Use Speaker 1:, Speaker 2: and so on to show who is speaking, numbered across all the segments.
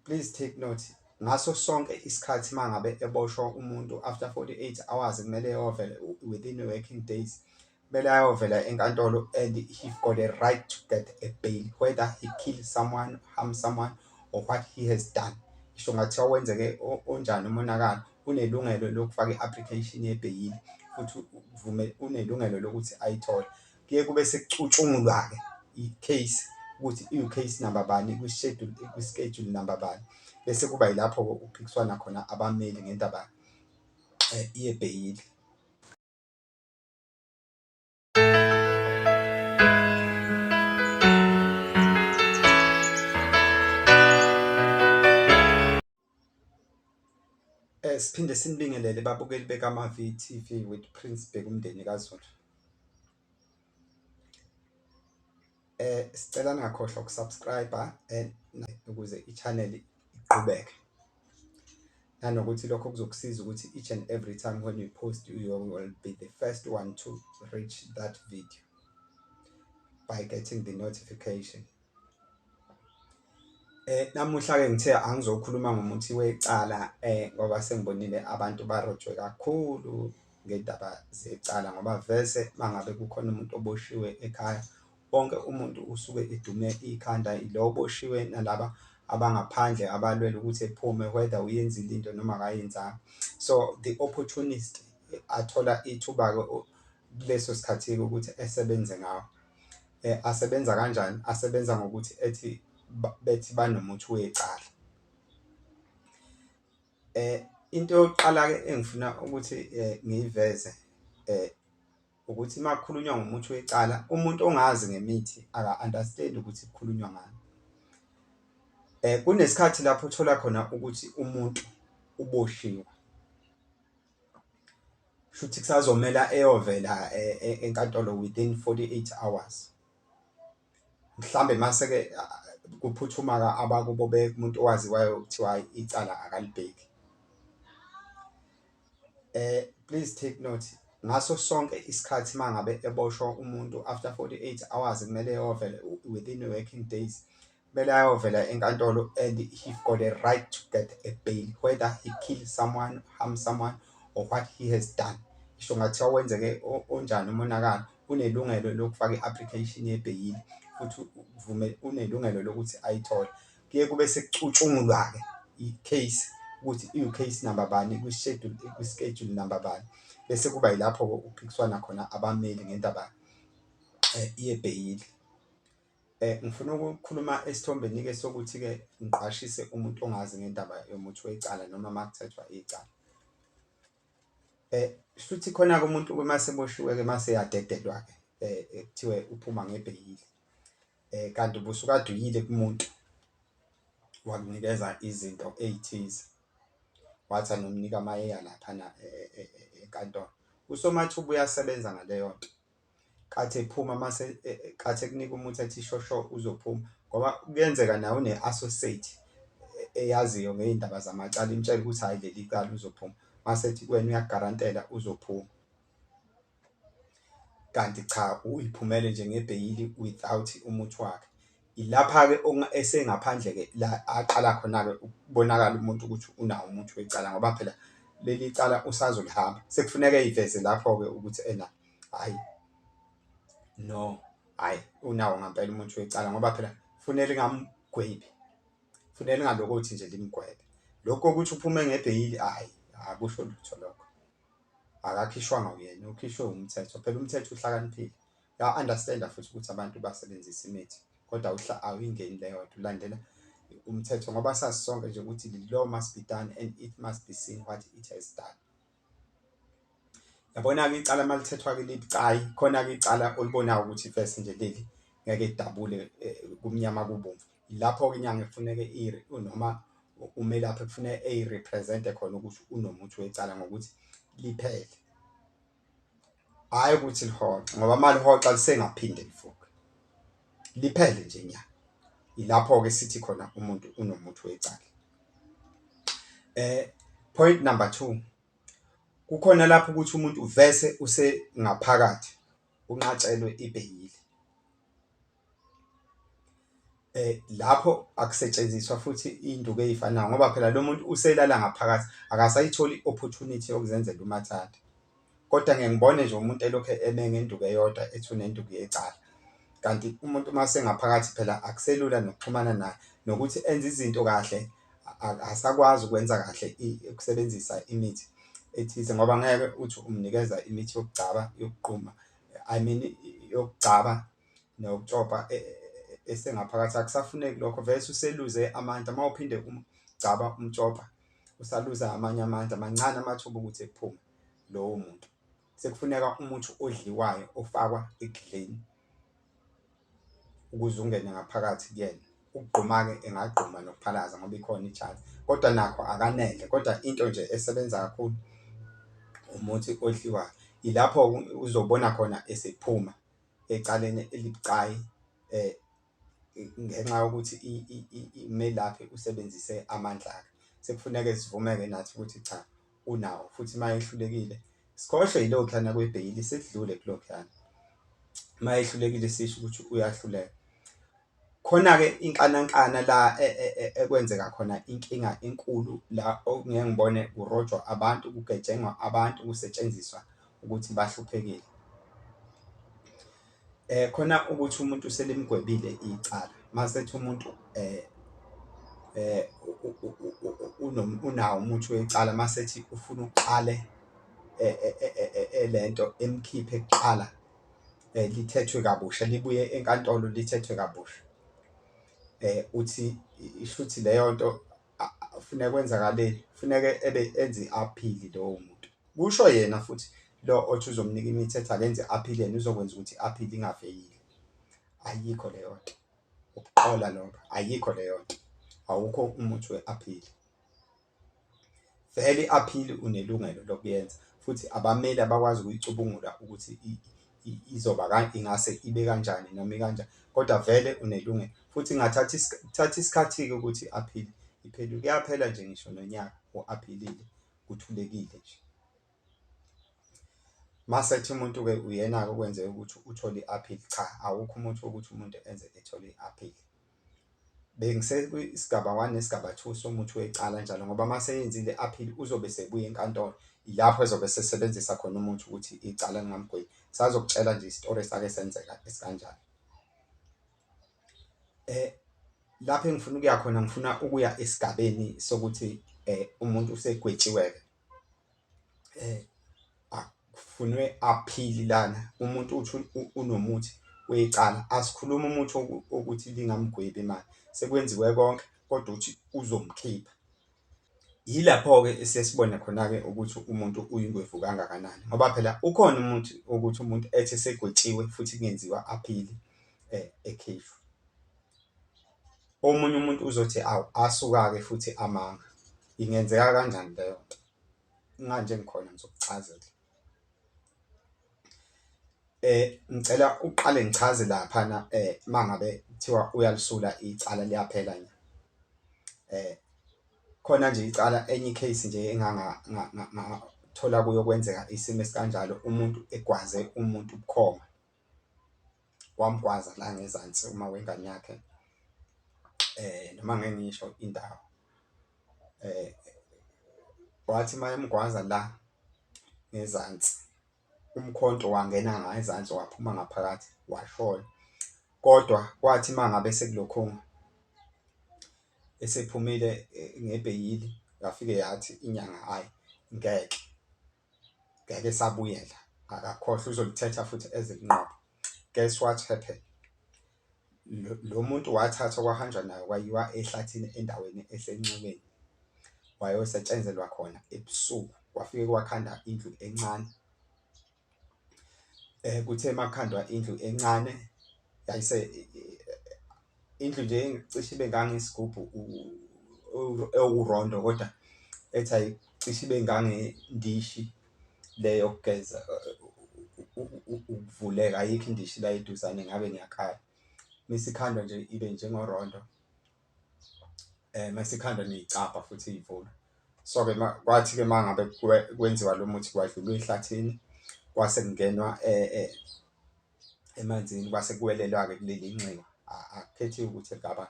Speaker 1: Please take note ngaso sonke isikhathi mangabe eboshwa umuntu after 48 hours kumele yovele within working days kumele ayovela enkantolo and he got a right to get a bail whether he kill someone harm someone or what he has done isho ngathiwa wenzeke onjani umonakalo unelungelo lokufaka i-application yebheyili futhi unelungelo lokuthi ayithole kuye kube sekucutshungulwa-ke i-case ukuthi iwu-case number bani kwi-schedule kwi-schedule number bani bese kuba yilapho-ke kuphikiswana khona abameli ngendaba um yebheyili Siphinde sinibingelele babukeli bekaMaVTV with Prince Bheka umndeni kaZulu. Sicela ningakhohlwa uku-subscribe-a ukuze i-channel iqhubeke. Nanokuthi lokho kuzokusiza ukuthi each and every time when you post you will be the first one to reach that video by getting the notification. Namuhla-ke ngithe angizokhuluma ngomuthi wecala ngoba sengibonile abantu barojwe kakhulu ngey'ndaba zecala ngoba vese uma ngabe kukhona umuntu oboshiwe ekhaya, wonke umuntu usuke edume ikhanda ilo oboshiwe nalaba abangaphandle abalwela ukuthi ephume whether uyenzile into noma akayenzanga. So, the opportunist athola ithuba-ke kuleso sikhathi-ke ukuthi esebenze ngawo. Asebenza kanjani? Asebenza ngokuthi ethi bethi banomuthi wecala. Into yokuqala-ke engifuna ukuthi ngiyiveze ukuthi uma kukhulunywa ngomuthi wecala umuntu ongazi ngemithi aka-understand-i ukuthi kukhulunywa ngani. Kunesikhathi lapho othola khona ukuthi umuntu uboshiwe. shuthi kusazomela eyovela e, e, enkantolo within 48 hours mhlambe mase ke kuphuthuma ka abakubo be umuntu owaziwayo kuthiwa icala akalibheki eh please take note ngaso sonke isikhathi mangabe eboshwa umuntu after 48 hours kumele yovele within working days Kumele ayovela enkantolo and he got a right to get a bail whether he kill someone, harm someone or what he has done. Isho ngathiwa wenzeke onjani umonakalo unelungelo lokufaka i-application yebheyili futhi uvume unelungelo lokuthi ayithole. Kuye kube sekucutshungulwa-ke i-case ukuthi iwu-case number bani kwi-schedule kwi-schedule number bani bese kuba yilapho-ke ukuphikiswana khona abameli ngendaba eh, yebheyili. Eh, ngifuna ukukhuluma esithombeni-ke sokuthi-ke ngiqwashise umuntu ongazi ngendaba yomuthi wecala noma uma kuthethwa icala eh futhi khona-ke umuntu uma seboshiwe-ke uma seyadedelwa-ke eh, eh kuthiwe uphuma ngebheyili eh kanti ubusukade uyile kumuntu wakunikeza izinto ey'thize wathi anomnika amayeyana laphana eh, enkantolo usomathuba uyasebenza ngaleyo nto kathi ephuma mase e, e, kathi ekunika umuthi athi shosho uzophuma ngoba kuyenzeka nawe une associate e, eyaziyo ngeindaba zamacala imtshela ukuthi hayi leli cala uzophuma mase ethi kuwena uyagarantela uzophuma kanti cha uyiphumele nje ngebheyili without umuthi wakhe ilapha ke esengaphandle ke la aqala khona ke ukubonakala umuntu ukuthi unawo umuthi wecala ngoba phela leli cala usazolihamba sekufuneka iveze lapho ke ukuthi ena hayi no hayi unawo ngampela umuntu wecala ngoba phela fune lingamgwebi fune lingaloko ukuthi nje limgwebe lokho ukuthi uphume ngebheyili hayi akusho lutho lokho akakhishwanga uyena ukhishwe umthetho phela umthetho uhlakaniphile ya understand futhi ukuthi abantu basebenzisa imithi kodwa uhla awuyingeni leyo nto ulandela umthetho ngoba sazi sonke nje ukuthi the law must be done and it must be seen what it has done Yabona-ke icala uma lithethwa-ke libucayi khona-ke icala olibonayo ukuthi first nje leli ngeke lidabule kumnyama kubomvu. Lapho-ke inyanga ekufuneke noma umelaphi ekufuneka eyi-represent-e khona ukuthi unomuthi wecala ngokuthi liphele. hhayi ukuthi lihoxa ngoba uma lihoxa lisengaphinde livuke liphele nje nya ilapho-ke sithi khona umuntu unomuthi wecala eh point number two kukhona lapho ukuthi umuntu vese usengaphakathi unqatshelwe ibheyili eh lapho akusetshenziswa futhi induku eyifanayo ngoba phela lo muntu uselala ngaphakathi akasayitholi opportunity yokuzenzela umathanda kodwa ngeke ngibone nje umuntu elokhu eme ngenduku eyodwa ethi unenduku yecala kanti umuntu uma sengaphakathi phela akuselula nokuxhumana naye nokuthi enze izinto kahle asakwazi ukwenza kahle ukusebenzisa imithi ethize ngoba ngeke uthi umnikeza imithi yokugcaba yokuquma i mean yokugcaba nokucopa e, e, e, esengaphakathi akusafuneki lokho vese useluze amandla uma uphinde umgcaba umcopa usaluza amanye amandla mancane amathuba ukuthi ephume lowo muntu sekufuneka umuthi odliwayo ofakwa ekudleni ukuze ungene ngaphakathi kuyena ukugquma-ke engagquma nokuphalaza ngoba ikhona ijazi kodwa nakho akanele kodwa into nje esebenza kakhulu umuthi odliwayo ilapho uzobona khona esephuma ecaleni elibucayi eh ngenxa yokuthi imelaphi usebenzise amandla akhe sekufuneke sivumeke nathi ukuthi cha unawo futhi uma ehlulekile sikhohlwe yilokhana kwebheyili sekudlule kulokhana uma ehlulekile sisho ukuthi uyahluleka Khona-ke inxanankxana la ekwenzeka khona inkinga enkulu la okungeke ngibone kurojwa abantu, kugetshengwa abantu, kusetshenziswa ukuthi bahluphekile. Eh khona ukuthi umuntu selimgwebile icala, masethi umuntu eh eh unawo umuthi wecala masethi ufuna uqale eh, eh, eh, lento emkhiphe kuqala eh, lithethwe kabusha libuye enkantolo lithethwe kabusha eh uthi ishuthi leyo nto funeka kwenzakaleni funeka ebe enze aphili lowo muntu kusho yena futhi lo othi uzomnika imithetho akenze aphile yena uzokwenza ukuthi aphile ingafeyile ayikho leyo nto ukuqola lokho ayikho leyo nto awukho umuthi we-aphili Vele i-aphili unelungelo lokuyenza futhi abameli abakwazi ukuyicubungula ukuthi izoba ingase ibe kanjani noma ikanjani kodwa vele unelungelo futhi ingathatha kuthatha isikhathi-ke ukuthi i-aphili iphele kuyaphela nje ngisho nonyaka u-aphilile kuthulekile nje. Masethi umuntu-ke uyena-ke okwenzeka ukuthi uthole i-aphili cha awukho umuntu wokuthi umuntu enze ethole i-aphili. Bengisekwisigaba one nesigaba two somuthi wecala njalo ngoba uma seyenzile aphile uzobe sebuya enkantolo ilapho ezobe sesebenzisa khona umuthi ukuthi icala lingamgweli. Sazokutshela nje isitori esake senzeka esikanjani. Lapho engifuna ukuya khona ngifuna ukuya esigabeni sokuthi umuntu usegwetshiwe-ke. eh akufunwe aphili lana umuntu uthi unomuthi wecala asikhuluma umuthi ukuthi lingamgwebi imali sekwenziwe konke kodwa uthi uzomkhipha yilapho-ke sesibona khona-ke ukuthi umuntu uyingwevu kangakanani ngoba phela ukhona umuntu ukuthi umuntu ethi segwetshiwe futhi kungenziwa aphili um ekhishwa Omunye umuntu uzothi awu asukake futhi amanga. Ingenzeka kanjani leyo nto? Nganje ngikhona ngizokuchazela. Eh ngicela uqale ngichaze lapha na eh mangabe kuthiwa uyalisula icala liyaphela nje. Eh khona nje icala enye case nje enganga thola kuyokwenzeka isimo esikanjalo umuntu egwaze umuntu ubukhoma. wamgwaza la ngezansi uma wengane yakhe eh noma ngeke ngisho indawo eh wathi mayemgwaza la ngezansi umkhonto wangena ngezansi waphuma ngaphakathi washona kodwa kwathi mangabe sekulokhunga esephumile eh, ngebheyili yafike yathi inyanga hayi ngeke ngeke esabuyela akakhohlwa uzolithetha futhi ezilinqobo guess what happened lo muntu wathathwa kwahanjwa nayo kwayiwa ehlathini endaweni esenxebeni wayosetshenzelwa khona ebusuku kwafike kwakhanda indlu encane eh kuthe makhandwa indlu encane yayise indlu nje cishe ibe ngangesigubhu ewurondo kodwa ethi ayi cishe ibe ngangendishi le yokugeza ukuvuleka ayikho indishi la eduzane ngabe ngiyakhala mesikhandwa nje ibe njengorondo eh mesikhandwa neyicapha futhi ivula so ke kwathi ke mangabe kwenziwa lo muthi kwadlulwa ehlathini kwase kungenwa eh, eh emanzini kwase kuwelelwa-ke kuleli nxiwa akukhethiwe ukuthi egaba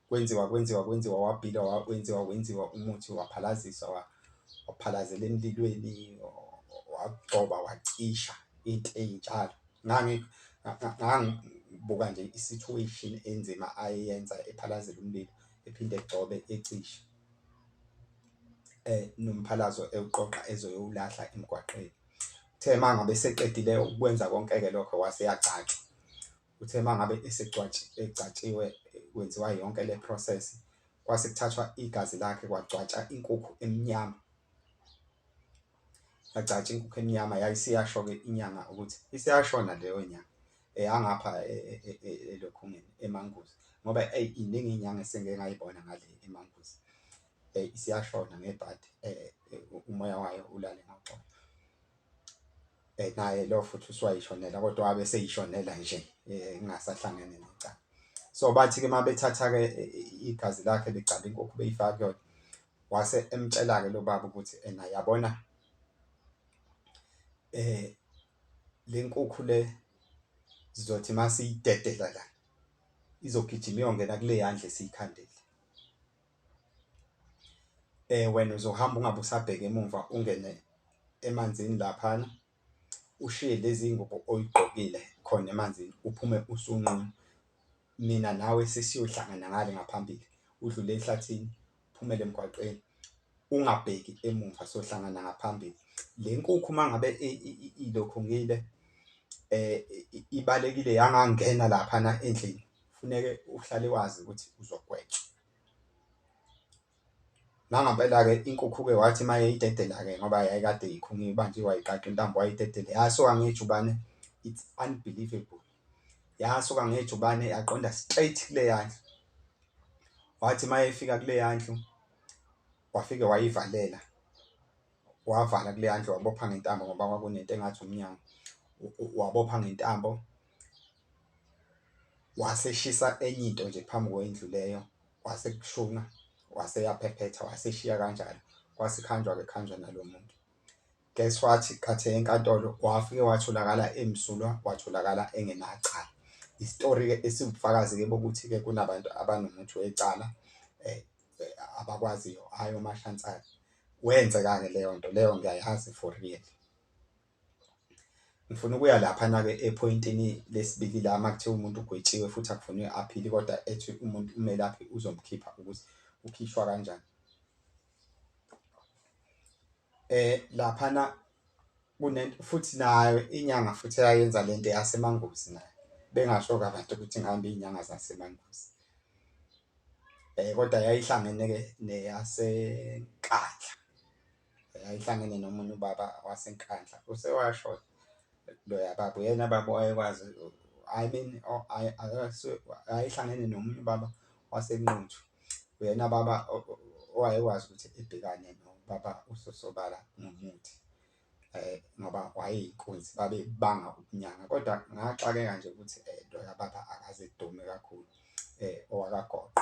Speaker 1: kwenziwa kwenziwa kwenziwa wabhila wenziwa wenziwa umuthi waphalaziswa waphalazela emlilweni wagcoba wacisha into eyinjalo ngangibuka nje i-situation enzima ayeyenza ephalazela umlilo ephinde egcobe ecisha um nomphalazo ewuqoqa ezoyowulahla emgwaqeni Uthe uma ngabe eseqedile ukwenza konke-ke lokho wase yagcatshwa. Uthe uma ngabe egcatshiwe kwenziwa yonke le process kwase kuthathwa igazi lakhe kwagcwatsha inkukhu emnyama yagcatsha inkukhu emnyama yayisiyasho-ke inyanga ukuthi isiyashona leyo nyanga eyangapha e, e, e, elokhungeni emanguzi ngoba eyi iningi inyanga esengike ngayibona ngale emanguzi Hey isiyashona ngebhadi eh umoya wayo ulale ngoxolo. Eh naye lo futhi uswayishonela kodwa wabe seyishonela nje eh ingasahlangene necala. So bathi ke mabethatha ke igazi lakhe begcaba inkukhu beyifaka kuyona. Wase emtshela ke lo baba ukuthi ena yabona eh lenkukhu le sizothi masiyidedela la izogijima iyongena kule yandle siyikhandile um wena uzohamba ungabe usabheka emumva ungene emanzini laphana ushiye lezi ngubo oyigqokile khona emanzini uphume usunqunu. Mina nawe sesiyohlangana ngale ngaphambili udlule ehlathini uphumele emgwaqeni ungabheki emumva sohlangana ngaphambili. Le nkukhu uma ngabe ilokhu ngile ibalekile yangangena laphana endlini. Funeke uhlale wazi ukuthi uzogwetshwa. Nangempela-ke inkukhu-ke wathi uma yayidedela-ke ngoba yayikade ikhungiwe ibanje wayiqaqa intambo wayidedele yasuka ngejubane it's unbelievable yasuka ngejubane yaqonda straight kule yandlu wathi uma yefika kule yandlu wafike wayivalela wavala kule yandlu wabopha ngentambo ngoba kwakunento engathi umnyango wabopha ngentambo Waseshisa enye into nje phambi kwendlu leyo, kwase kushuna, wase yaphephetha, waseshiya kanjalo, kwase khanjwa-ke khanjwa nalo muntu. Guess what, khathe enkantolo wafike watholakala emsulwa, watholakala engenacala. Isitori-ke esiwubufakazi-ke bokuthi-ke kunabantu abanomuthi wecala um abakwaziyo, hhayi omashantshali. Wenzeka-ke leyo nto leyo ngiyayazi for real. ngifuna ukuya laphana-ke ephoyintini lesibili la uma kuthiwa umuntu ugwetshiwe futhi akufunwe aphili kodwa ethi umuntu umelaphi uzomkhipha ukuthi ukhishwa kanjani eh laphana kunento futhi nayo inyanga futhi eyayenza lento yasemangozi nayo bengasho kabantu ukuthi ngihamba izinyanga zasemangozi eh kodwa yayihlangene ke neyasenkandla yayihlangene nomunye ubaba waseNkandla usewashoda loya baba uyena baba wayekwazi I mean ayihlangene nomunye ubaba waseNquthu uyena baba owayekwazi ukuthi ibhekane nobaba uSosobala ngomuthi um ngoba wayeyinkunzi babebanga ubunyanga kodwa ngaxakeka nje ukuthi loya baba akaze edume kakhulu um owakagoqo.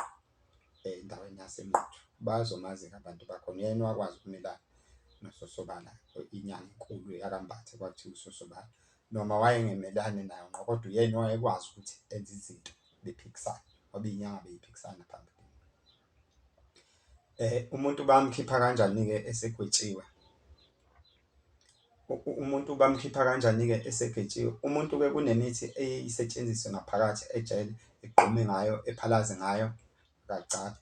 Speaker 1: endaweni yaseNquthu bazomazi-ke abantu bakhona. Uyena owakwazi ukumelana noSosobala, inyanga enkulu yakaMbatha kwakuthiwa uSosobala. Noma wayengemelani nayo ngqo kodwa uyena owayekwazi ukuthi enze izinto bephikisana ngoba iy'nyanga bey'phikisana phambili. Umuntu bamkhipha kanjani-ke esegwetshiwe? Umuntu bamkhipha kanjani-ke esegetshiwe? Umuntu-ke kunemithi eye isetshenziswe ngaphakathi ejele, egqume ngayo, ephalaze ngayo, akagcaphe.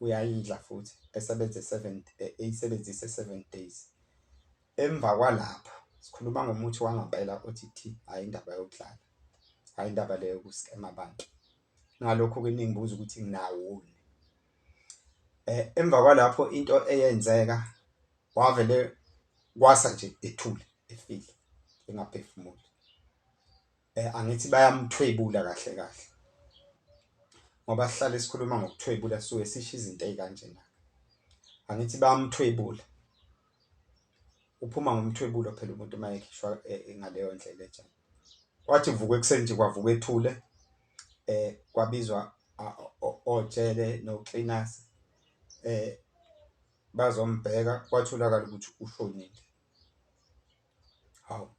Speaker 1: Uyayidla futhi esebenze seven, eh, eyisebenzise seven days. Emva kwalapho sikhuluma ngomuthi wangempela othi thi, hhayi indaba yokudlala, hhayi indaba leyo yokuskema abantu. Ngalokho-ke ningibuza ukuthi nginawoni. um emva kwalapho into eyenzeka wavele kwasa nje ethule efile engaphefumuli um angithi bayamthwebula kahle kahle ngoba sihlale sikhuluma ngokuthwebula suke sisho izinto ezikanjena angithi bayamthwebula uphuma ngomthwebulo phela umuntu uma ekhishwa eh, ngaleyo ndlela enjalo wathi vuka ekuseni nje kwavuka ethule eh kwabizwa ojele no-cleaners eh bazombheka kwatholakala ukuthi ushonile. Hawu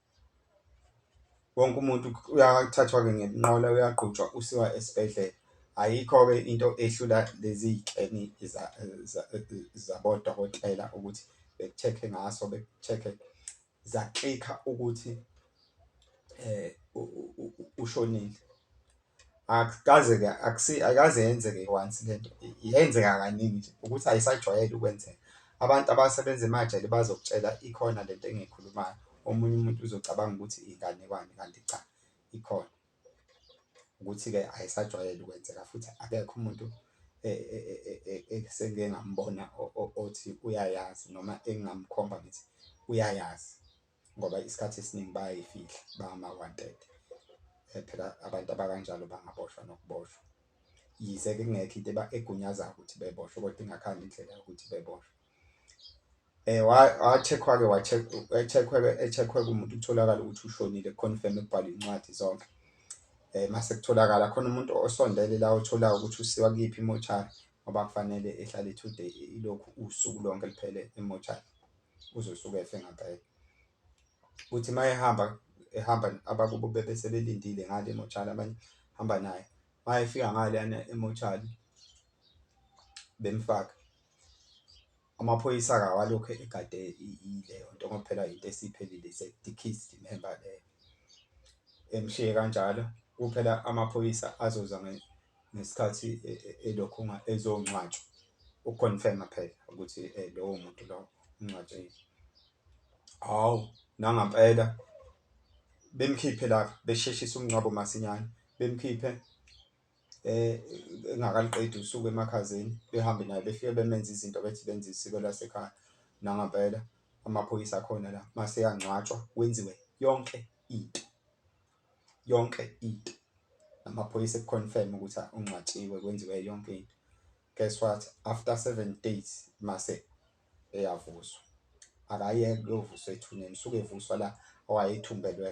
Speaker 1: wonke umuntu uyathathwa-ke ngenqola uyagqutshwa usiwa esibhedlela. Ayikho-ke into ehlula lezi y'keni zabodokotela ukuthi beku-check-e ngaso beku-check-e za clicker ukuthi eh ushonile akukaze ke akusi akaze yenzeke once lento yenzeka kaningi nje ukuthi ayisajwayele ukwenzeka abantu abasebenza emajele bazokutshela ikhona lento engiyikhulumayo omunye umuntu uzocabanga ukuthi inganekwane kanti cha ikhona. ukuthi-ke ayisajwayele ukwenzeka futhi akekho umuntu esengike ngambona othi uyayazi noma engingamkhomba ngithi uyayazi ngoba isikhathi esiningi bayayifihla bangama-wanted phela abantu abakanjalo bangaboshwa nokuboshwa yize-ke kungekho into egunyazayo ukuthi beboshwe kodwa ingakhani indlela yokuthi beboshwe. eh wacheck-wa-ke wacheck-wa echeck-wa kumuntu kutholakala ukuthi ushonile confirm ekubhala incwadi zonke eh mase kutholakala khona umuntu osondele la othola ukuthi usiwa kuyiphi imochari ngoba kufanele ehlale two day ilokhu usuku lonke liphele emochari uzosuke efe ngampela uthi mayehamba ehamba abakubo bebe sebelindile ngale emochari abanye hamba naye mayefika ngale yana emochari bemfaka Amaphoyisa akawalokhu egade ileyo nto ngoba phela yinto esiphelile is a deceased member leyo. Emshiye kanjalo kuphela amaphoyisa azoza ngesikhathi e, e, elokhu ezongcwatshwa uconfirma phela ukuthi eh, lowo muntu lowo ungcwatshile. Hawu nangampela bemkhiphe lapha besheshisa umngcwabo masinyane bemkhiphe engakaliqedi usuku emakhazeni behambe naye befike bemenza izinto bethi benza isiko lasekhaya nangampela amaphoyisa akhona la mase yangcwatshwa kwenziwe yonke into yonke into amaphoyisa ekuconfirm ukuthi ungcwatshiwe kwenziwe yonke into guess what after 7 days mase eyavuswa akayeke uyovuswa ethuneni suke evuswa la owayethumbelwe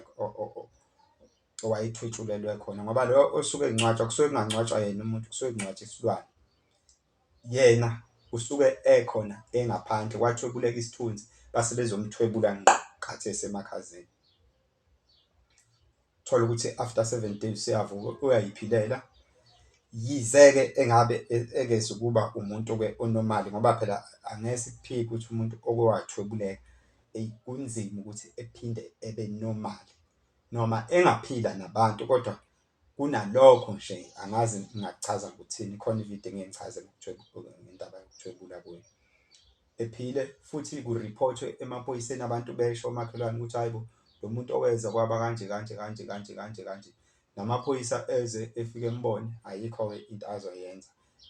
Speaker 1: owayethwetshulelwe khona ngoba lo osuke engcwatshwa kusuke kungangcwatshwa yena umuntu kusuke kungcwatshwa isilwane yena usuke ekhona engaphandle kwathwebuleka isithunzi base bezomthwebula ngqo kathi esemakhazeni thola ukuthi after 7 days useyavuka uyayiphilela yize-ke engabe e-, ekeze ukuba umuntu-ke onomali ngoba phela angeke sikuphike ukuthi umuntu oke wathwebuleka eyi kunzima ukuthi ephinde ebe nomali noma engaphila nabantu kodwa kunalokho nje angazi ngingachaza ukuthini khona ividiyo engeke ngichaze ngendaba yokuthwebula kuyo ephile futhi kuriphothwe emaphoyiseni abantu besho omakhelwane ukuthi hayi bo lo muntu oweza kwaba kanje kanje kanje kanje kanje kanje namaphoyisa eze efike embone ayikho-ke into azoyenza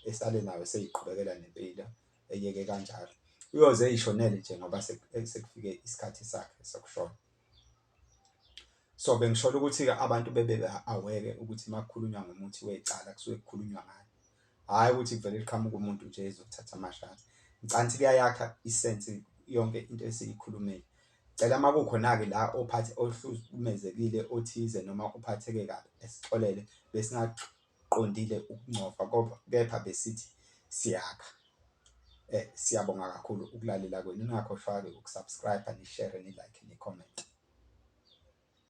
Speaker 1: esale nayo seyiqhubekela nempilo eyeke kanjalo uyoze eyishonele nje ngoba sekufike isikhathi sakhe sokushona so bengishola ukuthi-ke abantu bebe aweke ukuthi uma kukhulunywa ngomuthi wecala kusuke kukhulunywa ngani hhayi ukuthi kuvele liqhamuka umuntu nje ezokuthatha amashati ngicanthi kuyayakha isensi yonke into esiyikhulumile cela uma kukhona-ke la ophathe ohlukumezekile othize noma uphatheke kabi esixolele besingaxoxa qondile ukungcofa kodwa kepha besithi siyakha. Eh siyabonga kakhulu ukulalela kwenu ningakhohlwa ke ukusubscribe ni share ni like ni comment.